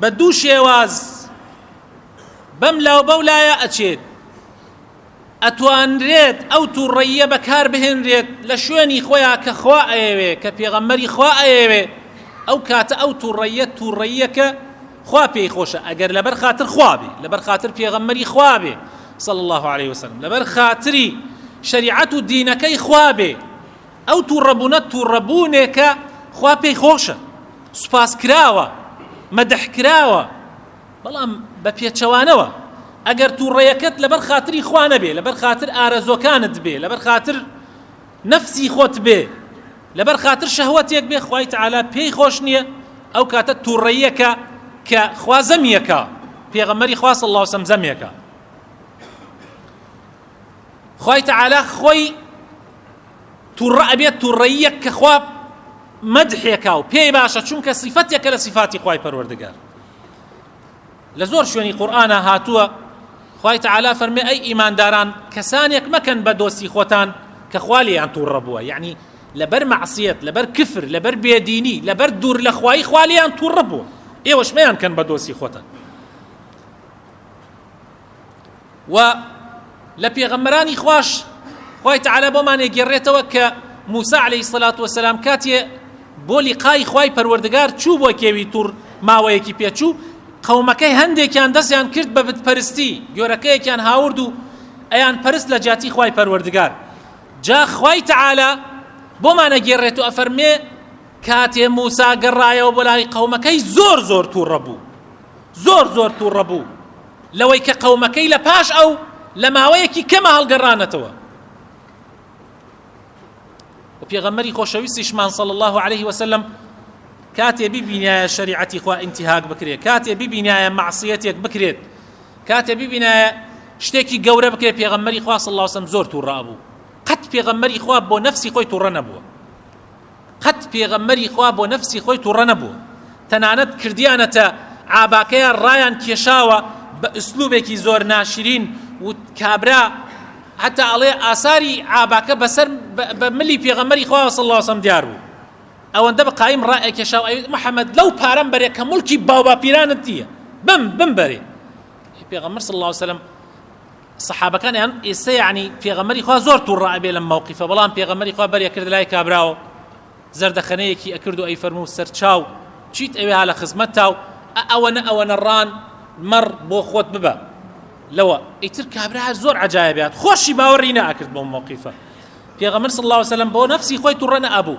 بە دوو شێواز بەم لاو بەو لایە ئەچێت ئەتوانرێت ئەو تووڕەییە بەکار بهێنرێت لە شوێنی خۆیان کە خوا ئەیەوێ کە پێغەمەری خوا ئەیەوێ ئەو کاتە ئەو تووڕەیە تووڕەیەکە خوا پێی خۆشە ئەگەر لەبەر خاتر خوا بێ لەبەر خاتر پێغەمەری خوا بێ صلى الله عليه وسلم لەبەر خاتری شریعەت و دینەکەی خوا بێ ئەو توڕەبونە توڕەبونێکە خوا پێی خۆشە سوپاس کراوە مەدح کراوە بەڵام بە پێچەوانەوە ئەگەر توڕەیەکەت لەبەر خاتری خوا نەبێ لەبەر خاتر ئارەزۆکانت بێ لەبەر خاتر نەفسی خۆت بێ لەبەر خاتر شەهوەتێک بێ خوای تعالی پێی خۆش نییە ئەو کاتە توڕەیەکە کە خوا زەمیەکە پێغەمەری خوا صلی الله وسلم زەمێکە خوای تعالی خۆی توڕە ئەبێت توڕەییەک کە خوا مەدحێکا و پێی باشە چونکە سیفەتێکە لە سیفاتی خوای پەروەردگار لە زۆر شوێنی قورئانە هاتووە خوای تعالی فەرمێ ئەی ئیمانداران کەسانێک مەکەن بە دۆستی خۆتان کە خوا لێیان تووڕە بووە یعنی لەبەر مەعسیەت لەبەر کفر لەبەر بێدینی لەبەر دوور لە خوای خوا لێیان تووڕە بووە ئێوەش مەیان کەن بە دۆستی خۆتان وە لە پێغەمبەرانی خواش خوای تعالی بۆمان ئەگێڕێتەوە کە موسی علیە الصلاة والسلام کاتێ بۆ لقای خوای پەروەردگار چوو بۆ کێوی توڕ ماوەیەکی پێچوو قەومەکەی هەندێکیان دەستیان کرد بە بتپەرستی گۆرەکەیەکیان هاورد و ئەیان پەرست لە جیاتی خوای پەروەردگار جا خوای تعالی بۆمان ئەگێڕێت و ئەفەرمێ کاتێ موسا گەڕایەوە بۆ لای قەومەکەی زۆر زۆر تووڕە بوو زۆر زۆر تووڕە بوو لەوەی کە قەومەکەی لە پاش ئەو لە ماوەیەکی کەمە هەڵگەڕانەتەوە و پێغەمبەری خۆشەویستیشمان صلی الله علیه وسلم کاتێ ببینایە شریعەتی خوا انتهاک بکرێت کاتێ ببینایە معصیەتێک بکرێت کاتێ ببینایە شتێکی گەورە بکرێت پێغەمبەری خوا صلی الله علیه وسلم زۆر توڕە بوو قەت پێغەمبەری خوا بۆ نفسی خۆی توڕە نەبووە قەت پێغەمبەری خوا بۆ نەفسی خۆی توڕە نەبووە تەنانەت کردیانەتە عاباکەیە ڕایان کێشاوە بە ئسلوبێکی زۆر ناشرین و کابرا حتا ئەڵێ ئاساری عاباکە بەسەر بە ملی پێغەمەری خوا صلی الله وسلم دیار بوو ئەوەندە بە قایم ڕائێ کێشاو ئەوی محەممەد لەو پارەم بەرێ کە ملکی باوباپیرانت دیە بم بم بەرێ پێغەمبەر صلی الله وسلم سەحابەکان یان ئێستا یعنی پێغەمبەری خوا زۆر تووڕە ئەبێ لەم مەوقیفە بەڵام پێغەمبەری خوا بەرێ کرد لای کابراوە زەردەخەنەیەکی ئەکرد و ئەیفەرموو سەرچاو چیت ئەوێ ها لە خزمەت تاو ئەوەنە ئەوەنە ڕان مەڕ بۆ خۆت ببە لەوە ئیتر کابرا هەر زۆر عجاە بات خۆشی باوەڕی ناکرد بۆ مەوقیفە پێغەمبەر صلی الله علیه وسلم بۆ نفسی خۆی توڕە نەبوو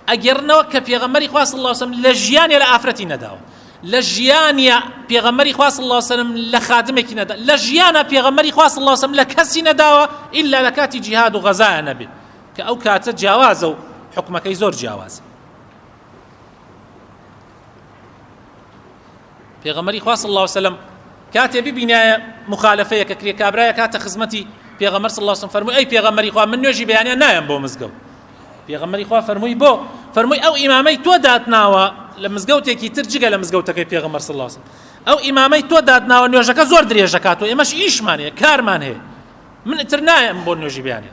ئەگەرنەوە کە پێغەمبەری خوا صلی الله علیه وسلم لە ژیانی لە ئافرەتی نەداوە لە ژیانیا پێغەمبەری خوا صلی اللە علیه و سلم لە خادمێکی نەدا لە ژیانا پێغەمبەری خوا صلی اللە علیه و سلم لە کەسی نەداوە ئیلا لە کاتی جیهاد و غەزایە نەبێ کە ئەو کاتە جیاوازە و حکومەکەی زۆر جیاوازە پێغەمەری خوا صلی الله علیه وسلم کاتێ ببینایە مخالفەیە کە کرێ کابرایە کاتە خزمەتی پێغەمەر صلی الله علیه وسلم فەرمووی ئەی پێغەمەری خوا من نوێژی بەیانیان نایەم بۆ مزگەوت پێغەمبەری خوا فەرمووی بۆ فەرمووی ئەو ئیمامەی تۆ داتناوە لە مزگەوتێکی تر جگە لە مزگەوتەکەی پێغەمبەر صلی الله علیه ئەو ئیمامەی تۆ داتناوە نوێژەکە زۆر درێژەکات و ئێمەش ئیشمان هەیە کارمان هەیە من تر نایم بۆ نوێژی بیانێ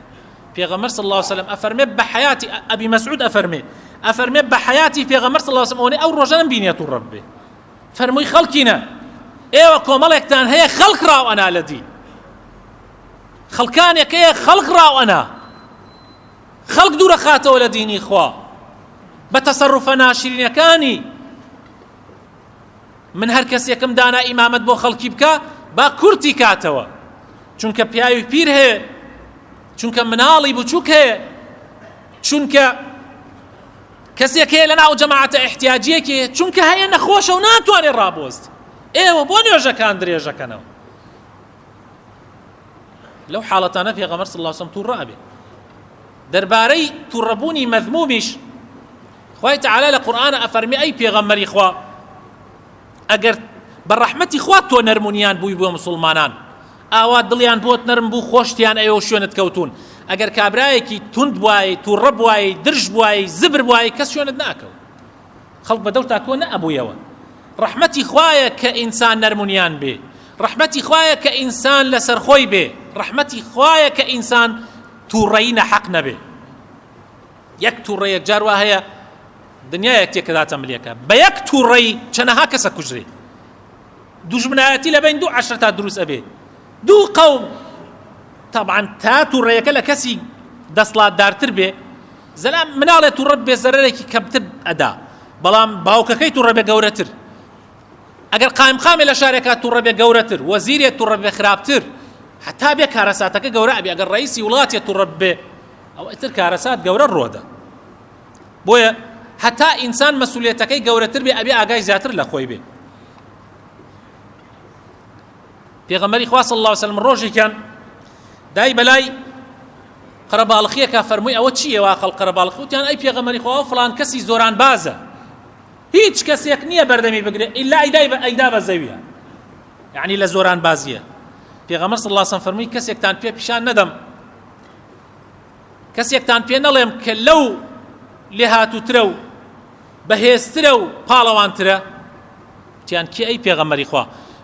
پێغەمبەر صلی الله علیه وسلم ئەفەرمێ بە حیاتی ئەبی مسعود ئەفەرمێ ئەفەرمێ بە حیاتی پێغەمبەر صلی الله علیه وسلم ئەوەی ئەو ڕۆژەم بینێت و ڕەب بێ فەرمووی خەڵکینە ئێوە کۆمەڵێکتان هەیە خەڵک ڕاو ئەنا لە دی خەڵکانێک هەیە خەڵک ڕاو ئەنا خەڵک دوورەخاتەوە لە دینی خوا بە تەسەڕفە ناشرینەکانی من هەر کەسێکم دانا ئیمامەت بۆ خەڵکی بکە با کورتی کاتەوە چونکە پیاوی پیر هەیە چونکە مناڵی بچووک هەیە چونکە کەسێک هەیە لە ناو جەماعەتە احتیاجیەکی چونکە هەیە نەخۆشە و ناتوانێت ڕابۆست ئێوە بۆ نوێژەکان درێژەکەنەوە لەو حاڵەتانە پێغەمبەر صلی الله علیه و توڕە ئەبێ دەربارەی توڕەبوونی مەذمومیش خوای تعالی لە قورئان ئەفەرمی ئەی پێغەمبەری خوا ئەگەر بە ڕەحمەتی خوا تۆ نەرمونیان بووی بۆ مسلمانان ئاوا دڵیان بۆت نەرم بوو خۆشتیان ئەوێ و شوێنت کەوتون ئەگەر کابرایەکی تند بوای توڕە بوای درژ بوای زبر بوای کەس شوێنت ناکەوت خەڵک بە دڵتا کۆ نەئەبوویەوە ڕەحمەتی خوایە کە ئینسان نەرمونیان بێ ڕەحمەتی خوایە کە ئینسان لەسەر خۆی بێ ڕەحمەتی خوایە کە ئینسان تووڕەی نەحەق نەبێ یەک تووڕە یەک جار وا هەیە دنیایەک تێکەداتە ملێکە بە یەک تووڕەی چەنەها کەسە کوژرێ دوژمنایەتی لە بین دوو عشر تا دروست ئەبێ دوو قەوم طبعا تا تووڕەیەکە لە کەسی دەسڵاتدارتر بێ زەلام مناڵێ توڕە بێ زەرەرێکی کەمتر ئەدا بەڵام باوکەکەی توڕە بێ گەورەتر ئەگەر قایمقامێ لە شارێکا توڕە بێ گەورەتر وەزیرێ توڕە بێ خراپتر حتا بێ کارەساتەکە گەورە ئەبێ ئەگەر ڕئیسی وڵاتێ توڕە بێ ئەو ئەتر کارەسات گەورە ڕۆدە بۆیە هەتا ئینسان مەسولێتەکەی گەورەتر بێ ئەبێ ئاگای زیاتر لە خۆی بێ پێغەمبەری خوا صلی الله علیه و سلم ڕۆژێکیان دای بەلای قەرەباڵخیەکە فەرمووی ئەوە چییە وا خەڵ قەرەباڵخی وتیان ئەی پێغەمبەری خوا فلان کەسی زۆران بازە هیچ کەسێک نییە بەردەمی بگرێت ئیلا ئەیدای بە ئەیدا بە زەویە یعنی لە زۆران بازیە پێغەمبەر صلی الله علیه و سلم فەرمووی کەسێکتان پێ پیشان نەدەم کەسێکتان پێ نەڵێم کە لەو لێهاتووترە و بەهێزترە و پاڵەوانترە تیان کێ ئەی پێغەمەری خوا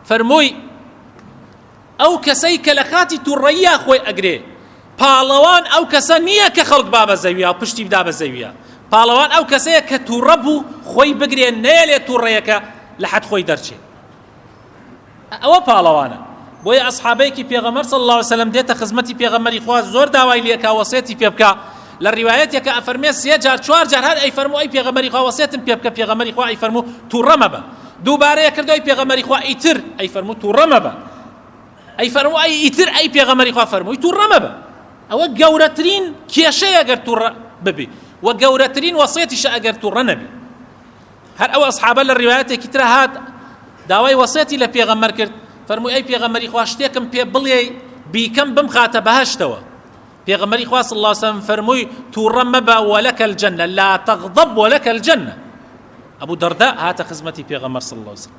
فەرمووی ئەو کەسەی کە لە کاتی تووڕەییا خۆی ئەگرێ پاڵەوان ئەو کەسە نییە کە خەڵک با بە زەویە پشتی بدا بە زەویە پاڵەوان ئەو کەسەیە کە تووڕە بوو خۆی بگرێ نەیەلێ تووڕەیەکە لە حەد خۆی دەرچێت ئەوە پاڵەوانە بۆیە ئەسحابەیەکی پێغەمەر صلی الله علیه وسلم دێتە خزمەتی پێغەمەری خوا زۆر داوای لێکا وەسێتی پێ بکا لە ڕیوایەتێکە ئەفەرمێ سێ جار چوار جار هەر ئەی فەرمو ئەی پێغەمەری خوا وەسێتم پێ بکە پێغەمەری خوا ئەی فەرمو تووڕە مەبە دووبارەیە کردو ئەی پێغەمەری خوا ئیتر ئەی فەرمو تووڕە مەبە ئەی فەرمو ئەی ئیتر ئەی پێغەمەری خوا فەرمووی تووڕە مەبە ئەوە گەورەترین کێشەیە گەر تووڕە ببی و گەورەترین وەسێتیشە ئەگەر تووڕە نەبی هەر ئەو ئەسحابە لە ڕیوایەتێکی ترا هات داوای وەسێتی لە پێغەمبەر کرد فەرمووی ئەی پێغەمبەری خوا شتێکم پێ بڵێی بیکەم بمخاتە بەهشتەوە پێغەمبەری خوا صلی الله سەم فەرمووی تووڕە مەبە وەلەکە الجنە لا تغضب وەلەکە الجنە ئەبوو دەردە هاتە خزمەتی پێغەمبەر صلی الله سەم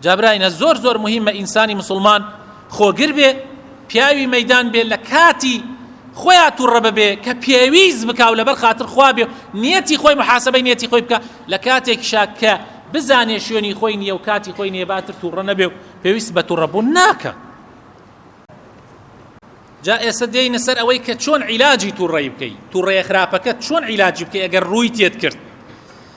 جابراینە زۆر زۆر مهمە ئینسانی مسلمان خۆگر بێ پیاوی مەدان بێ لە کاتی خۆیان توڕە ببێ کە پێویست بکاو لەبەر خاطر خوا بێ نیەتی خۆی محاسبەی نیەتی خۆی بکە لە کاتێک شاکە بزانێ شوێنی خۆی نیە و کاتی خۆی نێباتر توڕە نەبێ و پێویست بە توڕەبوون ناکە جا ئێستا دێنە سەر ئەوەی کە چۆن عیلاجی توڕی بکەیت توڕێ خراپەکە چۆن عیلاجی بکەی ئەگەر ڕووی تێت کرد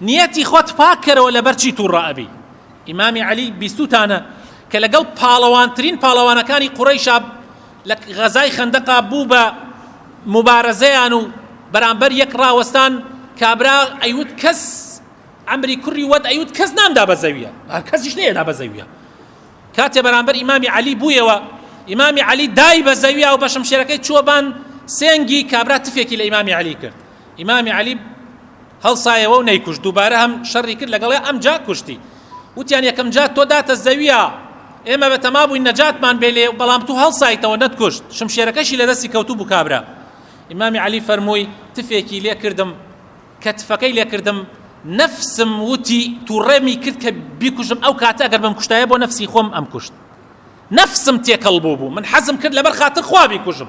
نیەتی خۆت پاک کەرەوە لەبەر چی توڕە ئەبی ئیمامی عەلی بیستوتانە کە لەگەڵ پاڵەوانترین پاڵەوانەکانی قوڕەیشا لە غەزای خەندەقا بوو بە مبارەزەیان و بەرامبەر یەک ڕاوەستان کابرا ئەیوت کەس عمری کوڕی وەت ئەیوت کەس نامدا بە زەویە کەسیش نەیەدا بە زەویە کاتێ بەرامبەر ئیمامی عەلی بوویەوە ئیمامی عەلی دای بە زەویە و بە شمشێرەکەی چووە بان سێنگی کابرا تفێکی لە ئیمامی عەلی کرد ئیمامی عەلی هەڵسایەوە و نەیکوشت دووبارە هەم شەڕی کرد لەگەڵێ ئەم جا کوشتی وتیان یەکەم جا تۆ داتە زەویە ئێمە بە تەما بووین نەجاتمان بێ لێ بەڵام تو هەڵسایتەوە نەتکوشت شمشێرەکەشی لە دەستی کەوتو بوو کابرا ئیمامی عەلی فەرمووی تفێکی لێ کردم کە تفەکەی لێ کردم نەفسم وتی تووڕێمی کرد کە بیکوژم ئەو کاتە ئەگەر بم کوشتایە بۆ نەفسی خۆم ئەم کوشت نەفسم تێکەڵ بوو بوو من حەزم کرد لەبەر خاتر خوا بیکوژم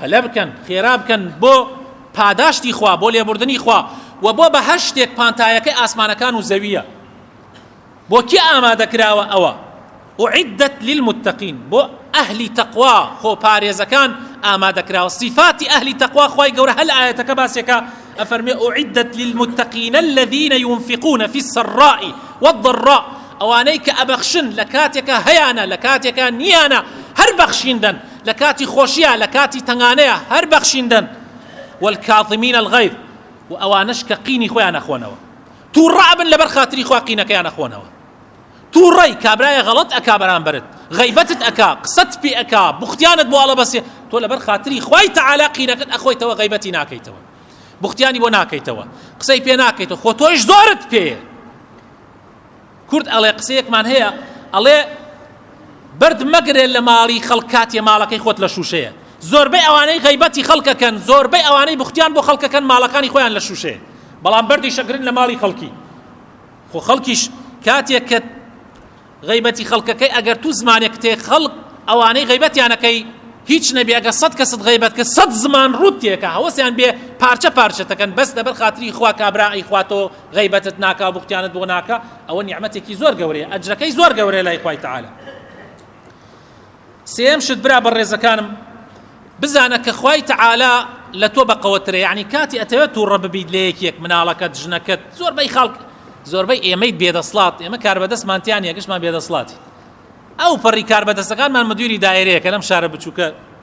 پەلە بکەن، خێرا بکەن بۆ پاداشتی خوا، بۆ لێبوردنی خوا، وە بۆ بەهەشتێک پانتایەکەی ئاسمانەکان و زەوییە. بۆ کێ ئامادە کراوە ئەوە؟ اعدت للمتقین، بۆ ئەهلی تەقوا، خۆ پارێزەکان ئامادە کراوە. سیفاتی ئەهلی تەقوا خوای گەورە هەر لە ئایەتەکە باسیەکا، ئەفەرموێ اعدت للمتقین الذین ینفقون فی السراء والضراء، ئەوانەی کە ئەبەخشن لە کاتێکا هەیانە لە کاتێکا نیانە، هەر بەخشین دەن. لە کاتی خۆشیە لە کاتی تەنگانەیا هەر بەخشیندەن والکاظمین الغیظ و ئەوانەش کە قینی خۆیان ئەخۆنەوە توڕە ئەبن لەبەر خاتری خوا قینەکەیان ئەخۆنەوە توڕەی کابرایە غەڵەت ئەکا بەرامبەرت غیبەتت ئەکا قسەت پێ ئەکا بوختیانت بۆ ئەڵەبەسێ تۆ لەبەر خاتری خوای تەعالا قینەکەت ئەخۆیتەوە غیبەتی ناکەیتەوە بوختیانی بۆ ناکەیتەوە قسەی پێ ناکەیتەوە خۆ تۆیش زۆرت پێیە کورد ئەڵێ قسەیەکمان هەیە ئەڵێ بەرد مەگرێ لە ماڵی خەڵک کاتێ ماڵەکەی خۆت لە شووشەیە زۆربەی ئەوانەی غیبەتی خەڵکەکەن زۆربەی ئەوانەی بختیان بۆ خەڵکەکەن ماڵەکانی خۆیان لە شووشەیە بەڵام بەردی شەگرن لە ماڵی خەڵکی خۆ خەڵکیش کاتێک کە غیبەتی خەڵکەکەی ئەگەر تو زمانێک تێ خەڵک ئەوانەی غیبەتیانەکەی هیچ نەبێ ئەگە سەد کە سەد غیبەت کە سەد زمان ڕوت تێکە هەوەسیان بێ پارچە پارچەتەکەن بەس لەبەر خاتری خوا کابرا ئەیخواتەوە غەیبەتت ناکا بوختیانت بۆ ناکا ئەوە نیعمەتێکی زۆر گەورەیە ئەجرەکەی زۆر گەورەیە لای خوای تعالی سێم شت برا بەڕێزەکانم بزانە کە خوای تعالی لە تۆ بەقەوەترە یعنی کاتی ئەتەوێت تووڕە ببیت لە یەکێک مناڵەکەت ژنەکەت زۆربەی خاڵک زۆربەی ئێمەی بێدەسڵات ئێمە کار بەدەستمانتیان یەکشمان بێدەسڵاتی ئەو پەڕی کار بەدەستەکانمان مدیری دایرەیە کە لەم شارە بچووکە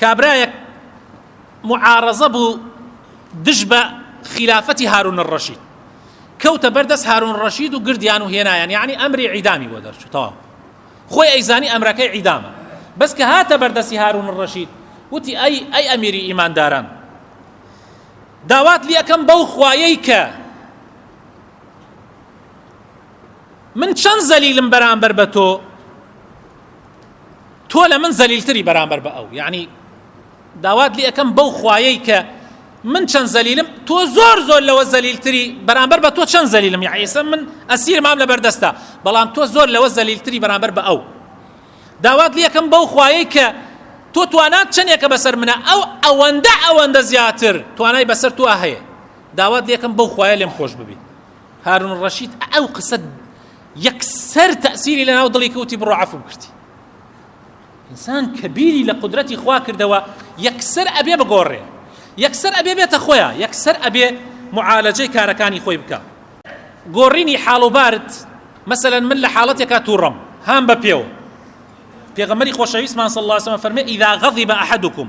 کابرایەک معارەزە بوو دژ بە خلافەتی هارون الرشید کەوتە بەردەست هارون ڕەشید و گردیان و هێنایان یعنی ئەمری عیدامی بۆ دەرچوو تەواو خۆی ئەیزانی ئەمرەکەی عیدامە بەس کە هاتە بەردەستی هارون ڕەشید وتی ئەی ئەی ئەمیری ئیمانداران داوات لەکەم بەو خوایەی کە من چەند زەلیلم بەرامبەر بە تۆ تۆ لە من زەلیلتری بەرامبەر بە ئەو یعنی داوات لێ ئەەکەم بەو خوایەی کە من چەند زەلیلم تۆ زۆر زۆر لەوە زەلیلتری بەرامبەر بە تۆ چەند زەلیلم یعیسە من ئەسیر مام لە بەردەستە بەڵام تۆ زۆر لەوە زەلیلتری بەرامبەر بە ئەو داوات لێ ئەەکەم بەو خوایەی کە تۆ توانات چەندێکە بەسەر منە ئەو ئەوەندە ئەوەندە زیاتر توانای بەسەر تۆ هەیە داوات لێکم بەو خوایە لێم خۆش ببی هارون ڕەشید ئەو قسە یەکسەر تەسیری لە ناو دڵی کەوتی بڕۆ عفوم کردی ئینسان کە بیری لە قدرەتی خوا کردەوە یەکسەر ئەبێ بگۆڕێ یەکسەر ئەبێ بێتە خۆیان یەکسەر ئەبێ معالەجەی کارەکانی خۆی بکە گۆڕینی حاڵ و بارد مثلا من لە حاڵەتێکا تووڕم هام بە پێوە پێغەمەری خۆشەویستمان صلی الله عليه وسلم فەرمێ اذا غضب احدكم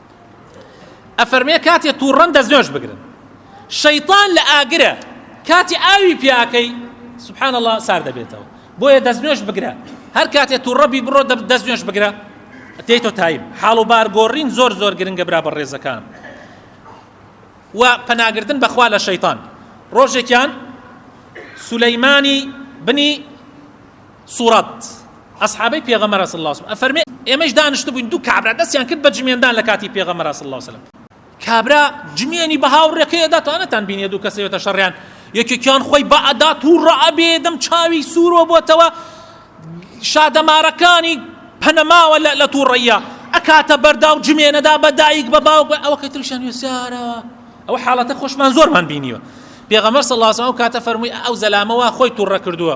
ئەفەرمێ کاتێ تووڕەن دەست نوێژ بگرن شەیطان لە ئاگرە کاتی ئاوی پیاکەی سبحان الله سار دەبێتەوە بۆیە دەست نوێژ بگرە هەر کاتێ تووڕەبی بڕۆ دەست نوێژ بگرە تێیتۆ تایم حاڵ و بارگۆڕین زۆر زۆر گرنگە برا بە ڕێزەکان و پەناگردن بەخوا لە شەیطان ڕۆژێکیان سولەیمانی بنی سورەت، ئەسحابەی پێغەمبەر صلی اللە علیە وسلم، ئەفەرمێ، ئێمەیش دانیشتبووین دوو کابرا دەستیان کرد بە جمێندان لە کاتی پێغەمبەر صلی اللە علیە وسلم، کابرا جمێنی بە هاوڕێکەی ئەدا تا نەتان بینیە دوو کەس ئەوێتە شەڕیان یەکێکیان خۆی بە ئەدا تووڕە ئەبێ دەم چاوی سوورۆ بۆتەوە شادەمارەکانی پەنەماوە لە تووڕەیە ئەکاتە بەردا و جمێنەدا بە دایک بە باوک بە ئەوەکەی تریشان وێسارەوە ئەوە حاڵەتە خۆشمان زۆرمان بینیوە پێغەمبەر صلی اللە علیه و سلم کاتە فەرمووی ئەو زەلامەوە خۆی تووڕە کردووە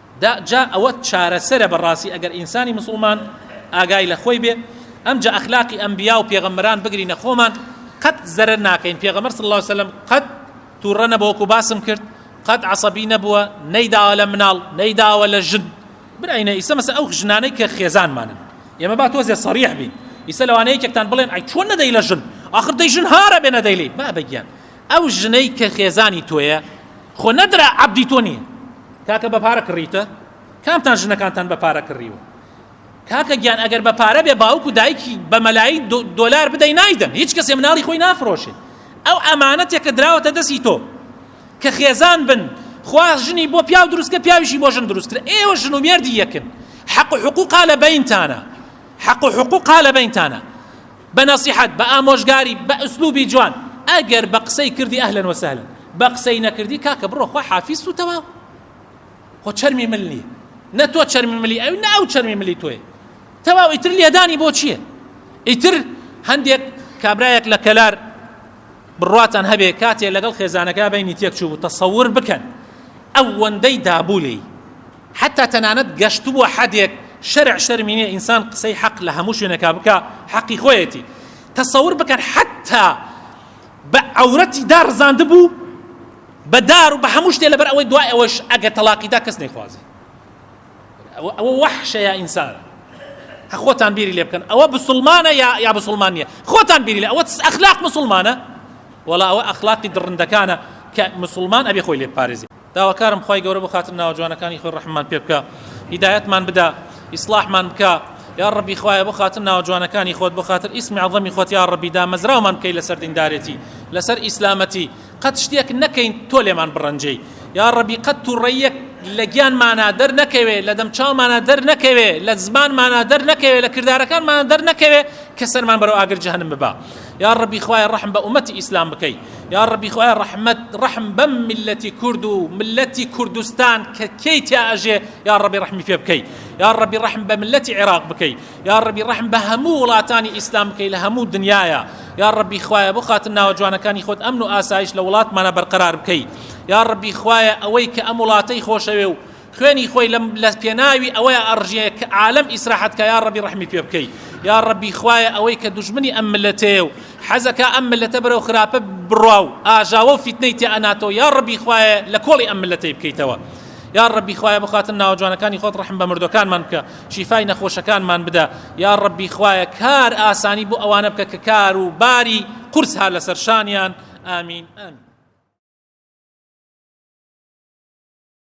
دا جا ئەوە چارەسەرە بەڕاستی ئەگەر ئینسانی مسوڵمان ئاگای لە خۆی بێ ئەم جا ئەخلاقی ئەنبیا و پێغەمبەران بگرینە خۆمان قەت زەرەر ناکەین پێغەمبەر صلی الله علیه وسلم قەت تووڕە نەبووە وەکو باسم کرد قەت عەسەبی نەبووە نەیداوە لە مناڵ نەیداوە لە ژن براینە ئیسە مەسە ئەو ژنانەی کە خێزانمانن ئێمە با تۆزێ سەریح بین ئیسە لەوانەیە یەکێکتان بڵێن ئەی چۆن نەدەی لە ژن آخر دەی ژن هارە بێ نەدەیلی بابە گیان ئەو ژنەی کە خێزانی تۆیە خۆ نەدرا عەبدی تۆ نییە کاکە بە پارە کڕیتە کامتان ژنەکانتان بە پارە کڕیوە کاکە گیان ئەگەر بە پارە بێ باوک و دایکی بە مەلایی دۆلار بدەی نایدەن هیچ کەسێ مناڵی خۆی نافرۆشێ ئەو ئەمانەتێک کە دراوەتە دەستی تۆ کە خێزان بن خوا ژنی بۆ پیاو دروستکە پیاویشی بۆ ژن دروستکرا ئێوە ژن و مێردی یەکن حەق و حقوقا لە بەینتانە حەق و حقوقا لە بەینتانە بە نەسیحەت بە ئامۆژگاری بە ئسلوبی جوان ئەگەر بە قسەی کردی ئەهلەن وە سەهلەن بە قسەی نەکردی کاکە بڕۆ خوا حافیست و تەواو خۆ چەرمی مل نییە نە تۆ چەرمی ملی ئەو نە ئەو چەرمی ملی تۆی تەواو ئیتر لێدانی بۆ چییە ئیتر هەندێک کابرایەک لە کەلار بڕاتان هەبێ کاتێ لەگەڵ خێزانەکە بینی تێک چوو تەسەور بکەن ئەوەندەی دابوو لێی حەتا تەنانەت گەشتبوە حەدێک شەرع شەرمی نیە ئینسان قسەی حەق لە هەموو شوێنێکا بکا حەقی خۆیەتی تەسەور بکەن حەتا بە عەورەتی داڕزاندبوو بە دار و بە هەموو شتێ لەبەر ئەوەی دوای ئەوەش ئەگەر تەلاقیدا کەس نەیخوازی ئەوە وەحشەیە ئینسانە خۆتان بیری لێ بکەن ئەوە بسلمانە یا یا بسلمان نیە خۆتان بیری لە ئەوە ئەخلاق مسلمانە وڵا ئەوە ئەخلاقی دڕندەکانە کە مسلمان ئەبێ خۆی لێ پارێزی داواکارم خوای گەورە بۆ خاتر ناوە جوانەکانی خۆی ڕەحممان پێ بکە هیدایەتمان بدە ئیسلاحمان بکە یا ڕەبی خوایە بۆ خاتر ناوە جوانەکانی خۆت بۆ خاتر ئیسمی عەظەمی خۆت یا ڕەبی دامەزراومان بکەی لەسەر دیندارێتی لەسەر ئیسلامەتی قەت شتێک نەکەین تۆ لێمان بڕەنجەی یا ڕەبی قەت توڕەیەک لە گیانمانە دەر نەکەوێ لە دەم چاومانە دەر نەکەوێ لە زمانمانە دەر نەکەوێ لە کردارەکانمانە دەر نەکەوێ کە سەرمان بەرەو ئاگر جەهەنم ببا یاڕەبی خوایە ڕەحم بە ئومەتی ئیسلام بکەی یاڕەبی خوایە ڕەحمەت ڕەحم بەم ملەتی کورد و ملەتی کوردستان کە کێی تیا ئەژێ یاڕەبی ڕەحمی پێ بکەی یاڕەبی ڕەحم بە ملەتی عێراق بکەی یاڕەبی ڕەحم بە هەموو وڵاتانی ئیسلام بکەی لە هەموو دنیاە یاڕەبی خوایە بۆ خاتن ناوە جوانەکانی خۆت ئەمن و ئاسایش لە وڵاتمانە بەرقەرار بکەی یاڕەبی خوایە ئەوەی کە ئەم وڵاتەی خۆشەوێ و خوێنی خۆی لە پێناوی ئەوەیە ئەڕژێ کە عالەم ئیسراحەت کا یا ڕەبی ڕەحمی پێ بکەی یا ڕەبی خوایە ئەوەی کە دوژمنی ئەم ملەتەیە و حەزەکە ئەم ملەتە بەرەو خراپە بڕوا و ئاژاوە و فیتنەی تێ ئەناتەوە یا ڕەبی خوایە لە کۆڵی ئەم ملەتەی بکەیتەوە یا ڕەبی خوایە بخاتن ناوە جوانەکانی خۆت ڕحم بە مردەکانمان بکە شیفای نەخۆشەکانمان بدە یا ڕەبی خوایە کار ئاسانی بۆ ئەوانە بکە کە کار و باری قورس هەر لەسەر شانیان ئامین ئەم